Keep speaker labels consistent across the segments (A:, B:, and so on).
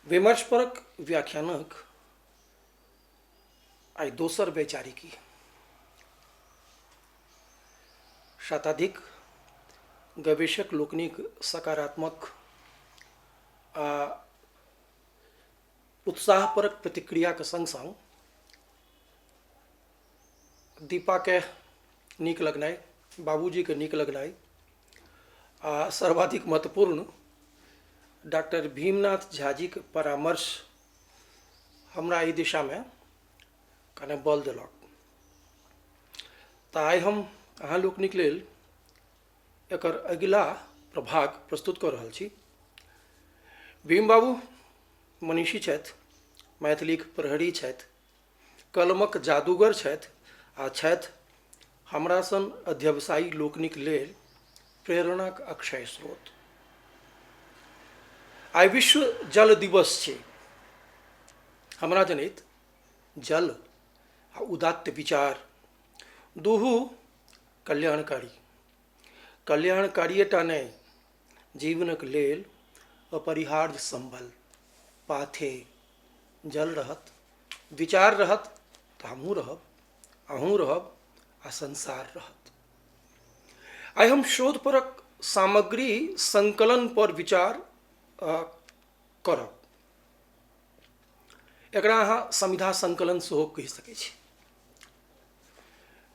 A: विमर्शपरक व्याख्यानक आइ दोसर वैचारिकी शताधिक गवेषक लोकनिक सकारात्मक आ उत्साहपरक प्रतिक्रियाक सङ्ग सङ्ग दीपाके नीक लगनाइ बाबूजीके नीक लगनाइ आओर सर्वाधिक महत्वपूर्ण डॉक्टर भीमनाथ झाजीके परामर्श हमरा एहि दिशामे कने बल देलक तऽ आइ हम अहाँ लोकनिक लेल एकर अगिला प्रभाग प्रस्तुत कऽ रहल छी भीम बाबू मनीषी छथि मैथिलीक प्रहरी छथि कलमक जादूगर छथि आ छथि हमरा सन अध्यवसायी लोकनिक लेल प्रेरणाक अक्षय स्रोत आइ विश्व जल दिवस छै हमरा जनैत जल आ उदात्त विचार दुहू कल्याणकारी कल्याणकारिएटा नहि जीवनक लेल अपरिहार्य सम्बल पाथे जल रहत विचार रहत तऽ हमहूँ रहब अहूँ रहब आ संसार रहत आइ हम शोधपरक सामग्री संकलन पर विचार अ, करब एकरा अहाँ संविधा संकलन सेहो कहि सकै छी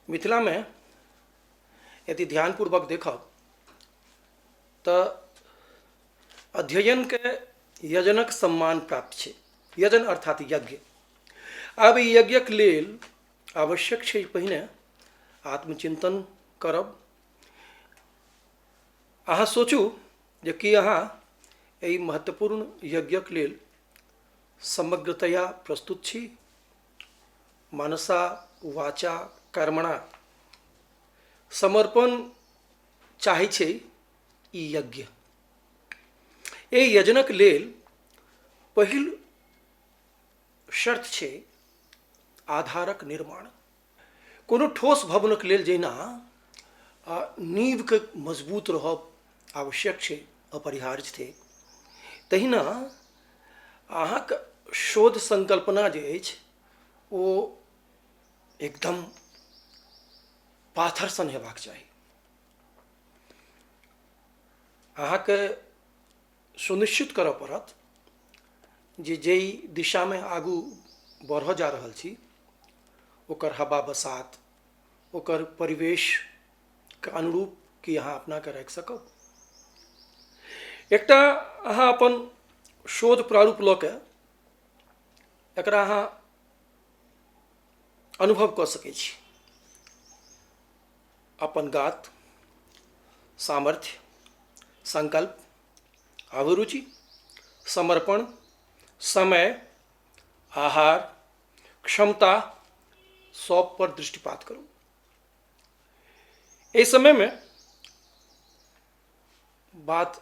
A: मिथिलामे यदि ध्यानपूर्वक देखब तऽ अध्ययनके यजनक सम्मान प्राप्त छै यजन अर्थात यज्ञ आब ई यज्ञक लेल आवश्यक छै पहिने आत्मचिन्तन करब अहाँ सोचू जे कि अहाँ एहि महत्वपूर्ण यज्ञक लेल समग्रतया प्रस्तुत छी मानसा वाचा कर्मणा समर्पण चाहै छै ई यज्ञ एहि यजनक लेल पहिल शर्त छै आधारक निर्माण कोनो ठोस भवनक लेल जहिना आ नींवके मजबूत रहब आवश्यक छै अपरिहार्य छै तहिना अहाँके शोध संकल्पना जे अछि ओ एकदम पाथर सन हेबाक चाही अहाँके सुनिश्चित करऽ पड़त जे जाहि दिशामे आगू बढ़ऽ जा रहल छी ओकर हवा बसात ओकर परिवेशके अनुरूप कि अहाँ अपनाके राखि सकब एकटा अहाँ अपन शोध प्रारूप लऽ कऽ एकरा अहाँ अनुभव कऽ सकै छी अपन गात सामर्थ्य संकल्प अभिरुचि समर्पण समय आहार क्षमता सब पर दृष्टिपात करू एहि समयमे बात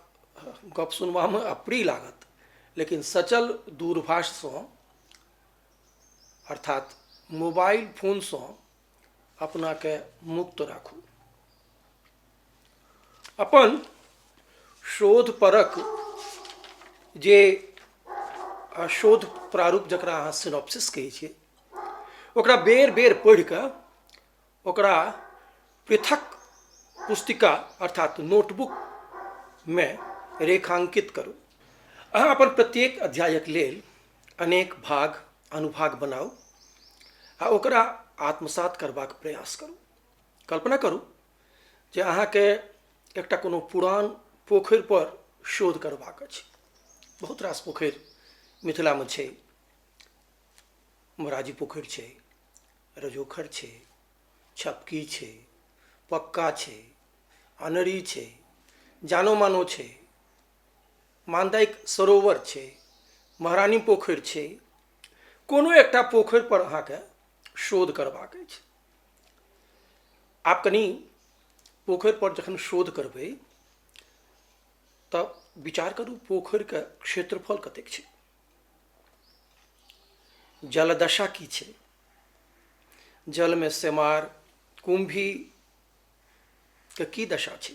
A: गप सुनबामे अप्रिय लागत लेकिन सचल दूरभाषसँ अर्थात मोबाइल फोनसँ अपनाके मुक्त राखू अपन शोधपरक जे आ, शोध प्रारूप जकरा अहाँ सिनॉप्सिस कहै छियै ओकरा बेर बेर पढ़ि कऽ ओकरा पृथक पुस्तिका अर्थात नोटबुकमे रेखांकित करू अहाँ अपन प्रत्येक अध्यायक लेल अनेक भाग अनुभाग बनाउ आ ओकरा आत्मसात करबाक प्रयास करू कल्पना करू जे अहाँके एकटा कोनो पुरान पोखरि पर शोध करबाक अछि बहुत रास पोखरि मिथिलामे छै मोराजी पोखरि छै रजोखर छै छपकी छै पक्का छै अनरी छै जानो मानो छै मान्दाइक सरोवर छै महारानी पोखरि छै कोनो एकटा पोखरि पर अहाँके शोध करबाक अछि आप कनी पोखरि पर जखन शोध करबै तऽ विचार करू पोखरिके क्षेत्रफल कतेक छै जलदशा की छै जलमे सेमार कुम्भी के की दशा छै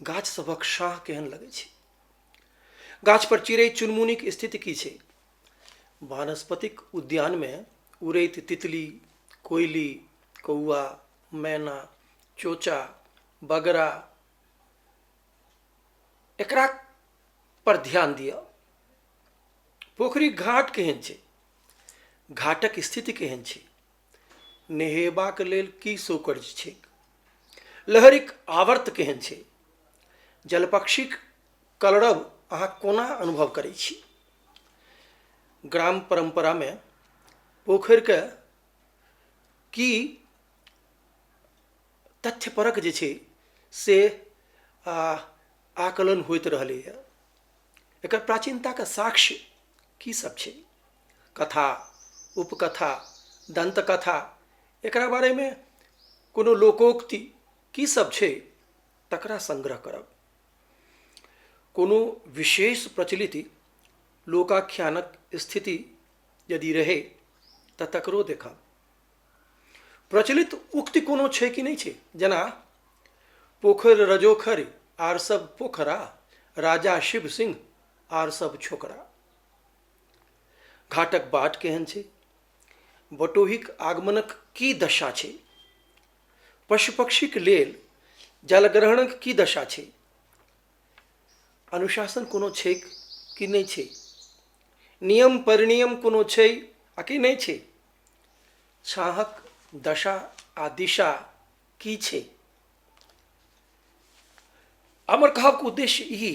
A: गाछ सभक शाह केहन लगै छै गाछ पर चिड़ै चुनमुनीक स्थिति की छै वानस्पतिक उद्यानमे उड़ैत तितली कोयली कौआ मैना चोचा बगरा एकरा पर ध्यान दिअ पोखरी घाट केहन छै घाटक स्थिति केहन छै नहेबाक लेल की सोकर्ज छैक लहरिक आवर्त केहन छै जलपक्षीक कलरव अहाँ कोना अनुभव करै छी ग्राम परम्परामे पोखरिके की तथ्यपरक जे छै से आकलन होइत रहलैए एकर प्राचीनताके साक्ष्य की सब छै कथा उपकथा दन्तकथा एकरा बारेमे कोनो लोकोक्ति की सब छै तकरा संग्रह करब कोनो विशेष प्रचलिति लोकाख्यानक स्थिति यदि रहै तऽ तकरो देखब प्रचलित उक्ति कोनो छै कि नहि छै जेना पोखरि रजोखरि आर सब पोखरा राजा शिव सिंह आर सब छोकरा घाटक बाट केहन छै बटोहीक आगमनक की दशा छै पशु पक्षीक लेल जलग्रहणक की दशा छै अनुशासन कोनो छै कि नहि छै नियम परिनियम कोनो छै आ कि नहि छै छाहक दशा आ दिशा की छै हमर कहक उद्देश्य ई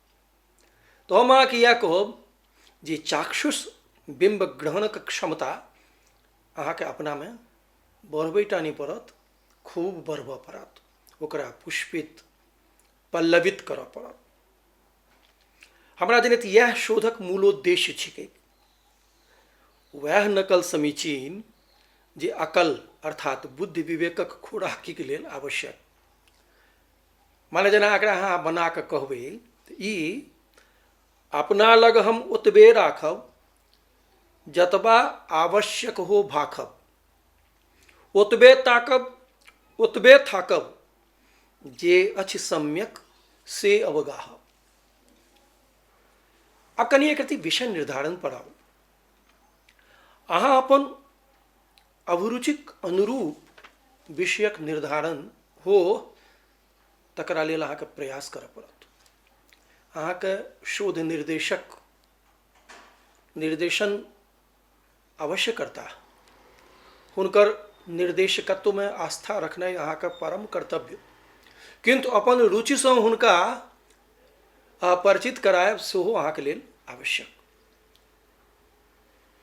A: तो हम अहाँके इएह कहब जे चाक्षुष बिम्ब ग्रहणक क्षमता अहाँके अपनामे बढ़बै टा नहि पड़त खूब बढ़बऽ पड़त ओकरा पुष्पित पल्लवित करऽ पड़त हमरा जनैत इएह शोधक मूलोद्देश्य छिकै वएह नकल समीचीन जे अकल अर्थात बुद्धि विवेकक खोराकीके लेल आवश्यक माने जेना एकरा अहाँ बना कऽ कहबै तऽ ई अपना लग हम ओतबे राखब जतबा आवश्यक हो भाखब ओतबे ताकब ओतबे थाकब जे अछि सम्यक से अवगाहब आ कनि एक रति विषय निर्धारण पर आउ अहाँ अपन अभिरुचिक अनुरूप विषयक निर्धारण हो तकरा लेल अहाँके प्रयास करऽ पड़त अहाँके शोध निर्देशक निर्देशन अवश्य करता हुनकर निर्देशकत्वमे आस्था रखनाइ अहाँके परम कर्तव्य किन्तु अपन रुचिसँ हुनका परिचित करायब सेहो अहाँके लेल आवश्यक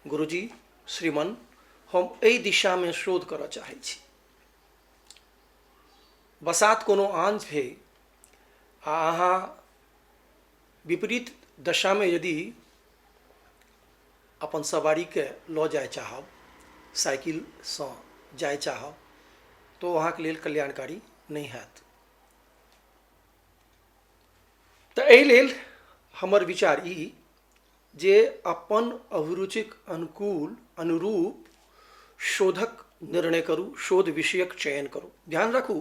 A: गुरुजी श्रीमन हम एहि दिशामे शोध करऽ चाहै छी बसात कोनो आन छै आ अहाँ विपरीत दशामे यदि अपन सवारीके लऽ जाय चाहब साइकिलसँ जाय चाहब तऽ ओ अहाँके लेल कल्याणकारी नहि हैत तऽ एहि लेल हमर विचार ई जे अपन अभिरुचिक अनुकूल अनुरूप शोधक निर्णय करू शोध विषयक चयन करू ध्यान राखू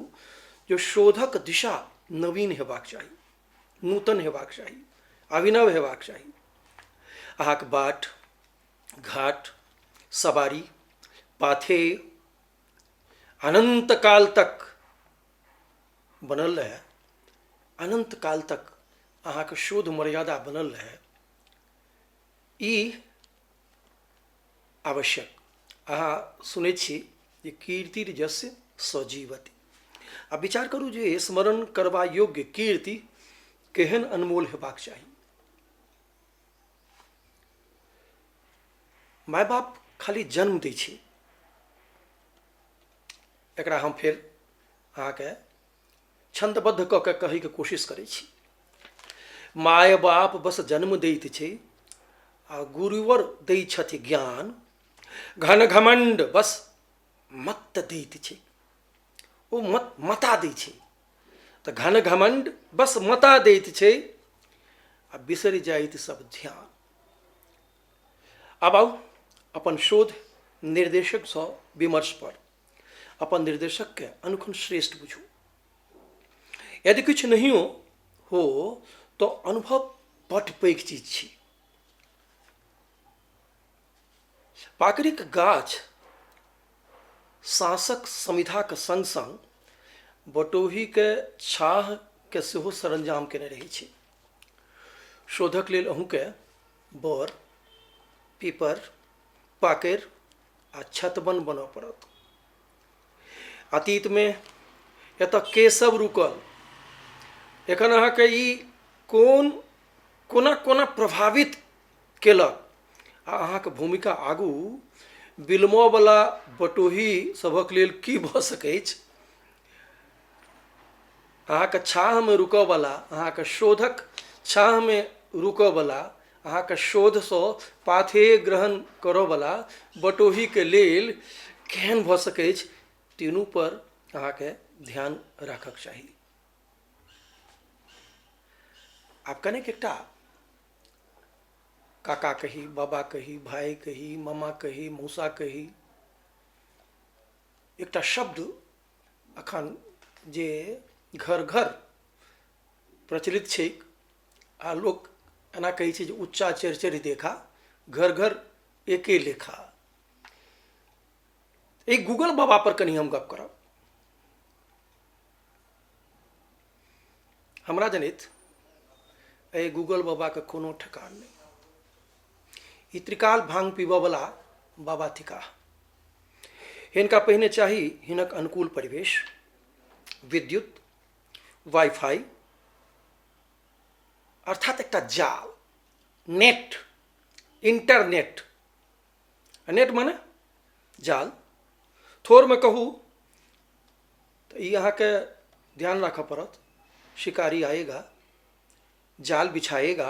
A: जे शोधक दिशा नवीन हेबाक चाही नूतन हेबाक चाही अभिनव हेबाक चाही अहाँक बाट घाट सवारी पाथे अनंत काल तक बनल रहए अनन्त काल तक अहाँके शोध मर्यादा बनल रहए ई आवश्यक अहाँ सुनै छी जे कीर्ति जस्य सजीवती आ विचार करू जे स्मरण करबा योग्य कीर्ति केहन अनमोल हेबाक चाही माय बाप खाली जन्म दै छै एकरा हम फेर अहाँके छन्दबद्ध कऽ के कहैके कोशिश करै छी माय बाप बस जन्म दैत छै आ गुरुवर दै छथि ज्ञान घन घमण्ड बस मत दैत छै ओ मत मता दै छै तऽ घन घमण्ड बस मता दैत छै आ बिसरि जाइत सब ध्यान आब आउ अपन शोध निर्देशकसँ विमर्श पर अपन निर्देशकके अनुखन श्रेष्ठ बुझू यदि किछु नहियो हो तो अनुभव बट पैघ चीज छी पाकड़िक गाछ साँसक समिधाके सङ्ग सङ्ग बटोहीके छाहके सेहो सरंजाम केने रहै छी शोधक लेल अहूँके बर पीपर पाकैर आ छतबन बनऽ पड़त अतीतमे एतऽ के सब रुकल एखन अहाँके ई कोन कोना कोना प्रभावित केलक आ अहाँके भूमिका आगू बिलमऽवला बटोही सभक लेल की भऽ सकैछ अहाँके छाहमे रुकऽवला अहाँके शोधक छाहमे रुकऽवला अहाँके शोधसँ पाथेय ग्रहण करऽवला बटोहीके लेल केहन भऽ सकै अछि तीनू पर अहाँके ध्यान राखक चाही आब कनेक एकटा काका कही बाबा कही भाय कही मामा कही मौसा कही एकटा शब्द अखन जे घर घर प्रचलित छैक आ लोक एना कहै छै जे उच्चा चढ़ि चढ़ि देखा घर घर एके लेखा एहि गूगल बाबा पर कनि हम गप करब हमरा जनैत एहि गूगल बाबाके कोनो ठेकान नहि ई त्रिकाल भांग पीबऽ वाला बाबा थिका हिनका पहिने चाही हिनक अनुकूल परिवेश विद्युत वाईफाई अर्थात एकटा जाल नेट इंटरनेट नेट माने जाल थोड़मे कहू तऽ ई अहाँके ध्यान राखऽ पड़त शिकारी आएगा जाल बिछाएगा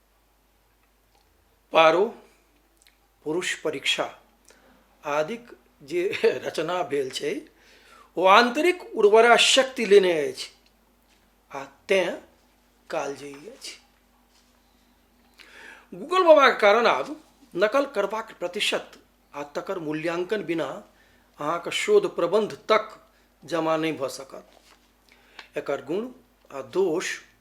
A: पारो पुरुष परीक्षा आदिक जे रचना भेल छै ओ आंतरिक उर्वरा शक्ति लेने अछि आ तें कालजयी अछि गूगल बाबाके कारण आब नकल करबाक प्रतिशत आ तकर मूल्यांकन बिना अहाँके शोध प्रबंध तक जमा नहि भऽ सकत एकर गुण आ दोष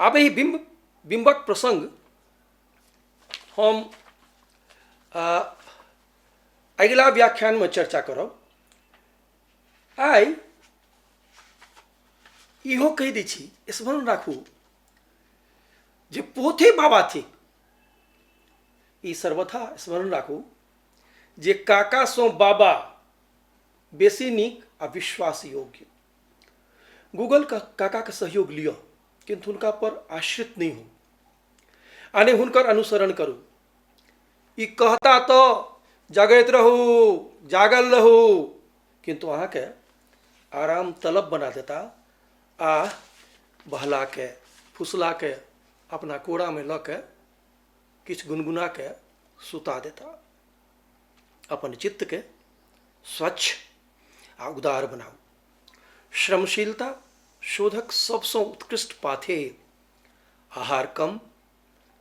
A: आब एहि बिम्ब बिम्बक प्रसङ्ग हम आ, अगिला व्याख्यानमे चर्चा करब आइ इहो कहि दै छी स्मरण राखू जे पोथे बाबा थिक ई सर्वथा स्मरण राखू जे काकासँ बाबा बेसी नीक आ विश्वास योग्य गूगल का काका के सहयोग लियो किंतु हुनका पर आश्रित नहीं हो आने हुनकर अनुसरण करू ई कहता तो जगैत रहू जागल रहू किंतु अहाँके आराम तलब बना देता आ बहला के फुसला के अपना कोड़ा में लऽ के किछु गुनगुना के सुता देता अपन चित्त के स्वच्छ आ उदार बनाउ श्रमशीलता शोधक सबसँ उत्कृष्ट पाथे आहार कम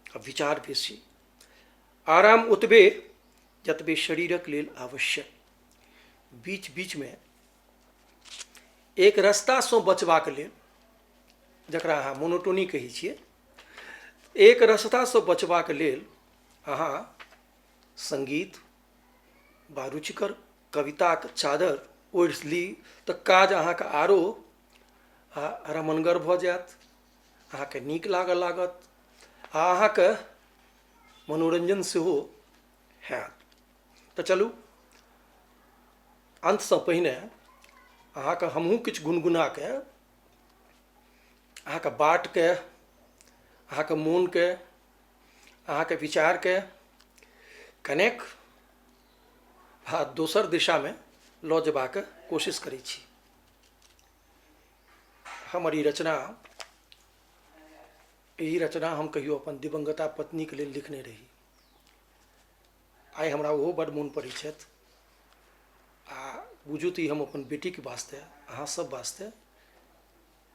A: आ विचार बेसी आराम ओतबे जतबे शरीरक लेल आवश्यक बीच बीचमे एक रस्तासँ बचबाक लेल जकरा अहाँ मोनोटोनी कहै छियै एक रस्तासँ बचबाक लेल अहाँ सङ्गीत वा रुचिकर कविताक चादरि ओढ़ि ली तऽ काज अहाँके आरो रमणगर भऽ जायत अहाँके नीक लागऽ लागत आ अहाँके मनोरञ्जन सेहो होयत तऽ चलू अन्तसँ पहिने अहाँके हमहूँ किछु गुनगुनाके अहाँके बाटके अहाँके मोनके अहाँके विचारके कनेक भा दोसर दिशामे लऽ जेबाक कोशिश करै छी हमर ई रचना एहि रचना हम कहियो अपन दिवंगता पत्नीके लेल लिखने रही आइ हमरा ओहो बड मोन पड़ै छथि आ बुझू तऽ ई हम अपन बेटीके वास्ते अहाँ सब वास्ते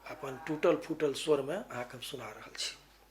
A: अपन टूटल फूटल स्वरमे अहाँके हम सुना रहल छी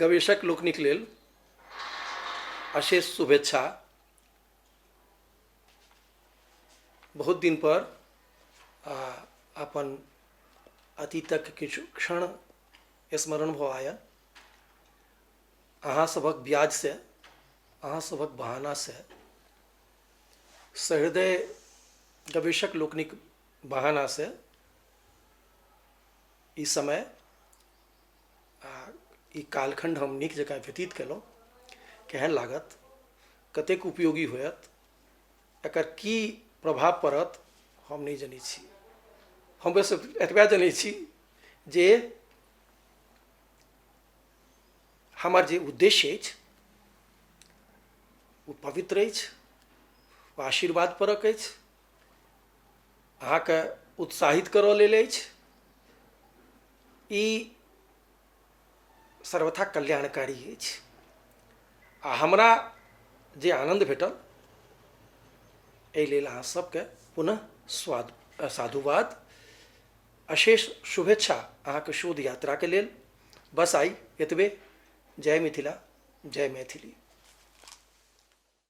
A: गवेशक लोकनिक लेल अशेष शुभेच्छा बहुत दिन पर आ अपन अतीतक किछु क्षण स्मरण भऽ आयल अहाँ सभक ब्याज से अहाँ सभक बहाना से सहृदय गवेशक लोकनिक बहाना से ई समय आ ई कालखण्ड हम नीक जकाँ व्यतीत केलहुँ केहन लागत कतेक उपयोगी होयत एकर की प्रभाव पड़त हम नहि जनैत छी हम बस एतबे जनैत छी जे हमर जे उद्देश्य अछि ओ पवित्र अछि ओ आशीर्वाद परक अछि अहाँके उत्साहित करऽ लेल अछि ई सर्वथा कल्याणकारी अछि आ हमरा जे आनन्द भेटल एहि लेल अहाँ सभके पुनः स्वाद साधुवाद अशेष शुभेच्छा अहाँके शोध यात्राके लेल बस आइ एतबे जय मिथिला जय मैथिली